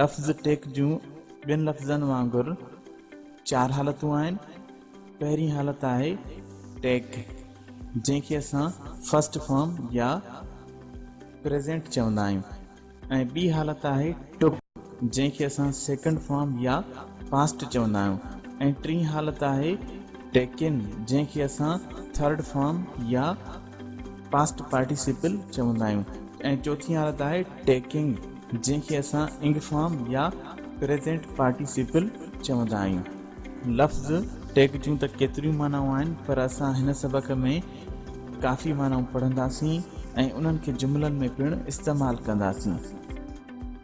لفظ ٽيڪ جون ٻين لفظن وانگر چار حالتون آهن پهرين حالت آهي ٽيڪ جنهن کي اسان فرسٽ فارم يا پريزنٽ چوندا آهيون ۽ ٻي حالت آهي ٽوڪ جنهن کي اسان سيڪنڊ فارم يا پاسٽ چوندا آهيون ۽ ٽين حالت آهي ٽيڪن جنهن کي اسان ٿرڊ فارم يا پاسٽ پارٽيسيپل چوندا آهيون. ۽ چوٿين حالت آهي ٽيڪنگ جنهن کي اسان انگفارم يا پريزينٽ پارٽيسيپل چوندا آهيون. لفظ ٽيڪ جون ته ڪيتريون معنائون آهن پر اسان هن سبق ۾ ڪافي معنائون پڙهنداسين ۽ انهن کي جملن ۾ پڻ استعمال ڪنداسين.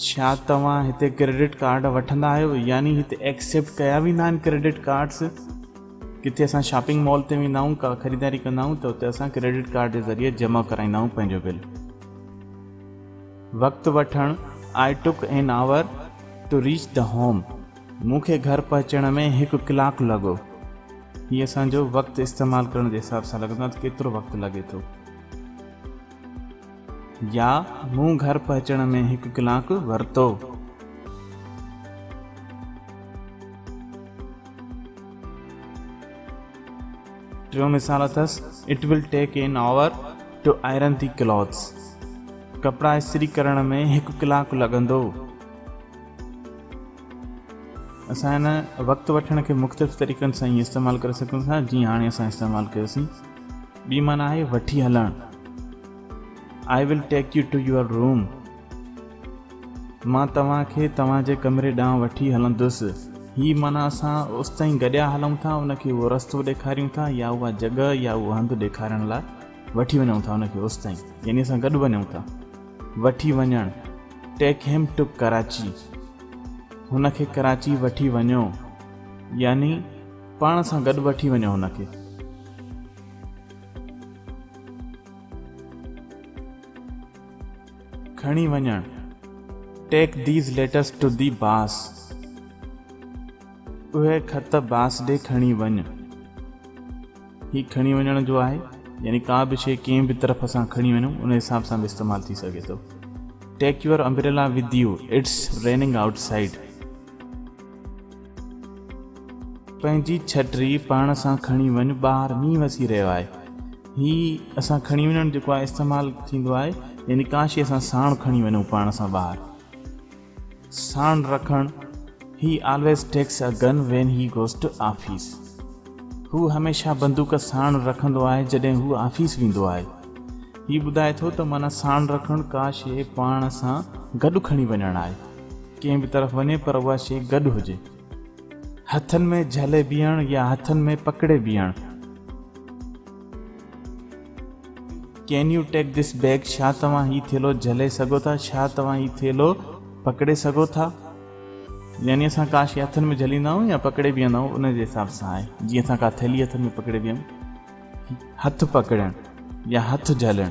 ڇا توهان هتي ڪريڊٽ ڪارڊ وٺندا آهيو يعني هتي ايڪسيپٽ ڪيا ويندا آهن ڪريڊٽ ڪارڊس ڪٿي اسان شاپنگ مال تي ويندا آهيون ڪا خريداري ڪندا آهيون ته اتي اسان ڪريڊٽ ڪارڊ جي ذريعي جمع ڪرائيندا آهيون پنهنجو بل وقت وٺڻ I took an hour to reach the home مون کي گهر پهچڻ ۾ هڪ ڪلاڪ لڳو هي اسان جو وقت استعمال ڪرڻ جي حساب سان لڳندو آهي ته ڪيترو وقت لڳي ٿو يا مون گهر پهچڻ ۾ هڪ ڪلاڪ ورتو. ٽيون مثال اٿس It will take an hour to iron the clothes. ڪپڙا استري ڪرڻ ۾ هڪ ڪلاڪ لڳندو. اسان هن وقت وٺڻ کي مختلف طريقن سان ائين استعمال ڪري سگهون ٿا جيئن هاڻي اسان استعمال ڪيوسين. ٻي معنيٰ آهي وٺي هلڻ. I will take you to your room. مان توهان کي توهان جي ڪمري ڏانهن وٺي هلندس. هي معنيٰ اسان اوستائين گڏيا هلون ٿا، ان کي اهو رستو ڏيکاريون ٿا يا اها جڳهه يا اهو هنڌ ڏيکارڻ لاء وٺي وڃون ٿا ان کي اوستائين يعني اسان گڏ وڃون ٿا. وٺي وڃڻ، Take him to Karachi. هن کي ڪراچي وٺي وڃو يعني. پاڻ سان گڏ وٺي وڃو هن کي. کڻي وڃڻ Take these letters to the باس اهي خط باس ڏي کڻي وڃ. هي کڻي وڃڻ جو آهي يعني ڪا به شيء ڪنهن به طرف اسان کڻي وڃون ان حساب سان به استعمال ٿي سگهي ٿو. Take your umbrella with you It's raining outside. پنهنجي ڇٽري پاڻ سان کڻي وڃ ٻاهر مينهن وسي رهيو آهي هي اسان کڻي وڃڻ جيڪو آهي استعمال ٿيندو آهي يعني ڪا شي اسان ساڻ کڻي وڃون پاڻ سان ٻاهر ساڻ رکڻ he always takes a gun when he goes to office هو هميشه بندوق ساڻ رکندو آهي جڏهن هو آفيس ويندو آهي هي ٻڌائي ٿو ته معنيٰ ساڻ رکڻ ڪا شي پاڻ سان گڏ کڻي وڃڻ آهي ڪنهن به طرف وڃي پر اها شيء گڏ هجي. هٿن ۾ جهلي بيهڻ يا هٿن ۾ پڪڙي بيهڻ. Can you take this bag؟ ڇا توهان هي ٿيلهو جهلي سگهو ٿا؟ ڇا توهان هي ٿيلهو پڪڙي سگهو ٿا؟ يعني اسان ڪا شيء هٿن ۾ جهليندا آهيون يا پڪڙي بيهندا آهيون ان جي حساب سان آهي. جيئن اسان ڪا ٿيلهي هٿن ۾ پڪڙي بيهون. هٿ پڪڙڻ يا هٿ جهلڻ.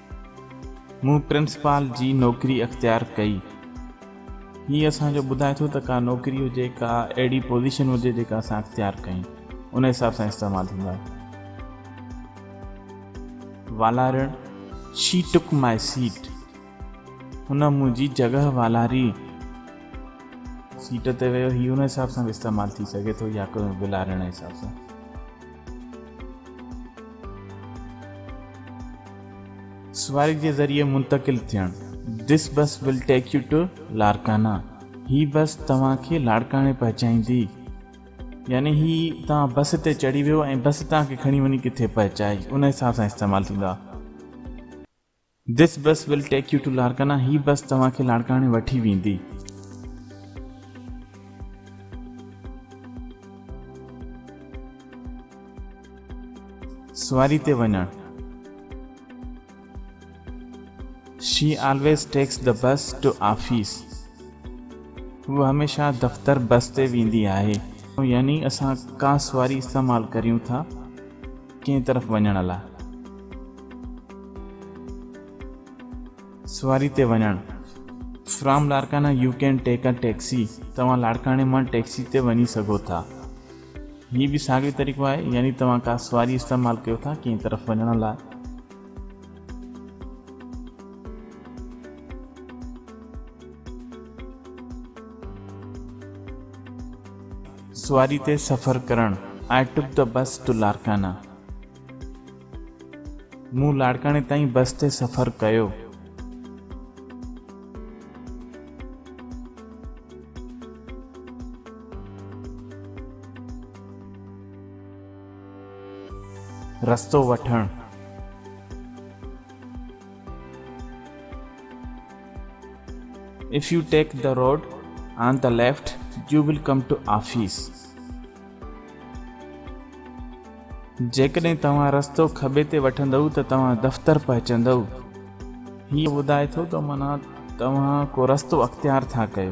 مون پرنسپال جي نوڪري اختيار ڪئي. هي اسان جو ٻڌائي ٿو ته ڪا نوڪري هجي، ڪا اهڙي پوزيشن هجي جيڪا اسان اختيار ڪيون، ان حساب سان استعمال ٿيندا. والارڻ، She took my seat. هن منهنجي جڳهه والاري. سيٽ تي ويو، هي ان حساب سان به استعمال ٿي سگهي ٿو يا ڪنهن والارڻ جي حساب سان. سوائي جي ذريعي منتقل ٿيڻ This bus will take you to Larkana هي بس توهان کي لاڙڪاڻي پهچائيندي يعني هي توهان بس تي چڙهي ويو ۽ بس توهان کي کڻي وڃي ڪٿي پهچائي ان حساب سان استعمال ٿيندو آهي This bus will take you to Larkana هي بس توهان کي لاڙڪاڻي وٺي ويندي. سواري تي وڃڻ She always takes the bus to office هوء هميشه دفتر بس تي ويندي آهي. يعني اسان ڪا سواري استعمال ڪريون ٿا. ڪنهن طرف وڃڻ لا. سواري تي وڃڻ From Larkana you can take a taxi توهان لاڙڪاڻي مان ٽيڪسي تي وڃي سگهو ٿا. هي به ساڳيو طريقو آهي يعني توهان ڪا سواري استعمال ڪيو ٿا ڪنهن طرف وڃڻ لا. سواري تي سفر ڪرڻ آئي ٽوڪ دي بس ٽو لاڙڪانا مون لاڙڪاڻي تائين بس تي سفر ڪيو. رستو وٺڻ. If you take the road on the left, you will come to office. جيڪڏهن توهان رستو کٻي تي وٺندؤ ته توهان دفتر پهچندؤ. هيء ٻڌائي ٿو ته معنيٰ توهان ڪو رستو اختيار ٿا ڪيو.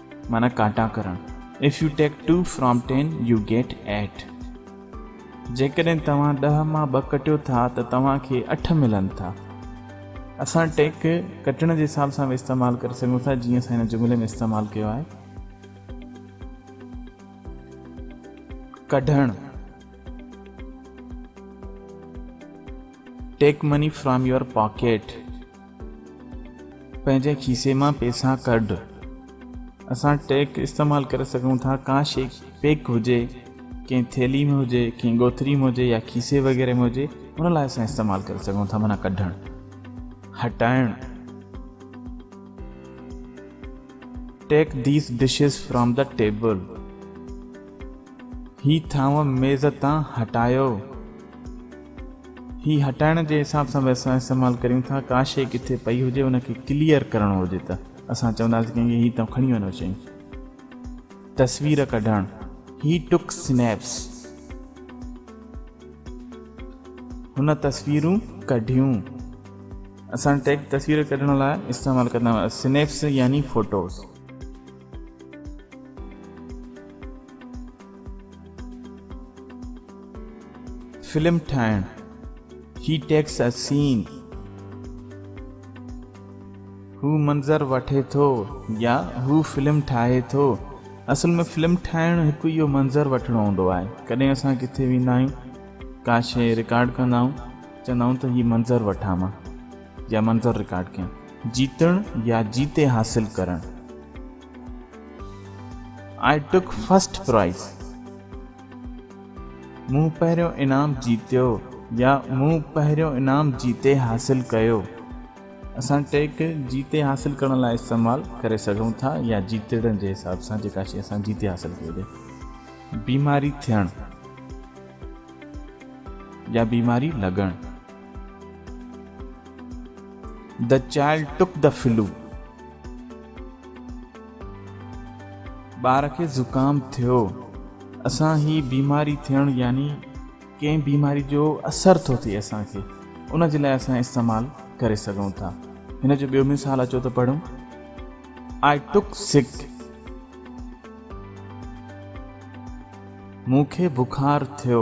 معنيٰ ڪاٽا ڪرڻ If you take two from ten, you get eight. جيڪڏهن توهان ڏهه مان ٻه ڪٽيو ٿا ته توهان کي اٺ ملن ٿا. اسان ٽيڪ کي ڪٽڻ جي حساب سان به استعمال ڪري سگهون ٿا جيئن اسان هن جملي ۾ استعمال ڪيو آهي. ڪڍڻ Take money from your pocket. پنهنجي کيسي مان پيسا ڪڍ. اسان ٽيڪ استعمال ڪري سگهون ٿا. ڪا شيء پيڪ هجي، ڪنهن ٿيلهي ۾ هجي، ڪنهن ڳوٿري ۾ هجي يا کيسي وغيره ۾ هجي، ان لاء اسان استعمال ڪري سگهون ٿا معنيٰ ڪڍڻ، هٽائڻ. Take these dishes from the table. هي ٿانو ميز تان هٽايو. هي هٽائڻ جي حساب سان به اسان استعمال ڪريون ٿا ڪا شئي ڪٿي پئي هجي ان کي ڪليئر ڪرڻو هجي ته اسان چونداسين ڪنهن کي هي تون کڻي وڃو شئي تصوير ڪڍڻ هي ٽڪ سنيپس هن تصويرون ڪڍيون اسان ٽيڪ تصوير ڪڍڻ لاء استعمال ڪندا سنيپس يعني فوٽوز فلم ٺاهڻ He takes a scene هو منظر وٺي ٿو يا هو فلم ٺاهي ٿو اصل ۾ فلم ٺاهڻ هڪ اهو منظر وٺڻو هوندو آهي ڪڏهن اسان ڪٿي ويندا آهيون ڪا شيء رڪارڊ ڪندا آهيون چوندا آهيون ته هي منظر وٺان مان جا منظر رڪارڊ ڪيا. جيتڻ يا جيتي حاصل ڪرڻ. I took first prize مون پهريون انعام جيتيو يا مون پهريون انعام جيتي حاصل ڪيو. اسان ٽيڪ جيتي حاصل ڪرڻ لاء استعمال ڪري سگهون ٿا يا جيتڙڻ جي حساب سان جيڪا شيء اسان جيتي حاصل ڪئي هجي. بيماري ٿيڻ يا بيماري لڳڻ. The child took the flu. ٻار کي زڪام ٿيو. اسان هي بيماري ٿيڻ يعني ڪنهن بيماري جو اثر ٿو ٿئي اسان کي ان جي لاء اسان استعمال ڪري سگهون ٿا. هن جو ٻيو مثال اچو ته پڙهون I took sick. مون کي بخار ٿيو.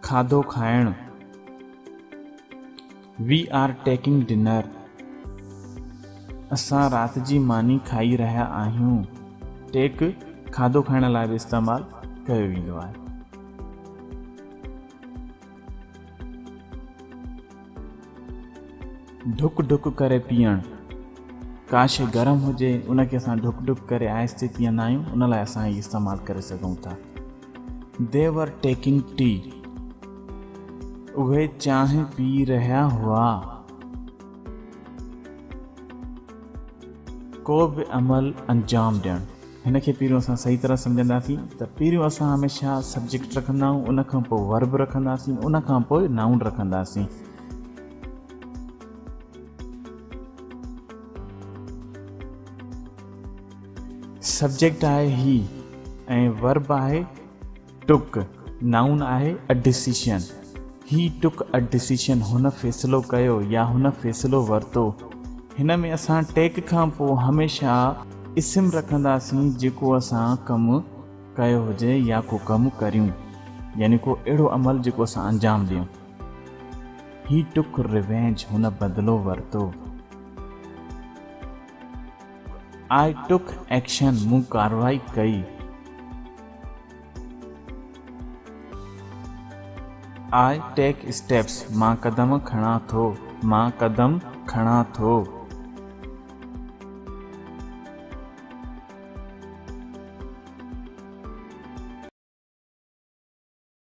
کاڌو کائڻ، We are taking dinner، اسان رات جي ماني کائي رهيا آهيون، Take، کاڌو کائڻ لاء به استعمال ڪيو ويندو آهي. ڍڪ ڍڪ ڪري پيئڻ، ڪا شيء گرم هجي، ان کي اسان ڍڪ ڍڪ ڪري آهستي پيئندا آهيون، ان لاء اسان هي استعمال ڪري سگهون ٿا. They were taking tea. اهي چانهه پي رهيا هئا. ڪو به عمل انجام ڏيڻ. هن کي پهريون اسان صحيح طرح سمجهنداسين ته پهريون اسان هميشه سبجيڪٽ رکندا آهيون ان کان پوء ورب رکنداسين ان کان پوء نائون رکنداسين. سبجيڪٽ آهي هي ۽ ورب آهي ٽوڪ نائون آهي a decision he took a decision هن فيصلو ڪيو يا هن فيصلو ورتو هن ۾ اسان ٽيڪ کان پوء هميشه اسم رکنداسين جيڪو اسان ڪم ڪيو هجي يا ڪو ڪم ڪريون يعني ڪو اهڙو عمل جيڪو اسان انجام ڏيون هي ٽوڪ ريونج هن بدلو ورتو. آء ٽوڪ ايڪشن، مون ڪارروائي ڪئي. آء ٽيڪ اسٽيپس، مان قدم کڻان ٿو، مان قدم کڻان ٿو.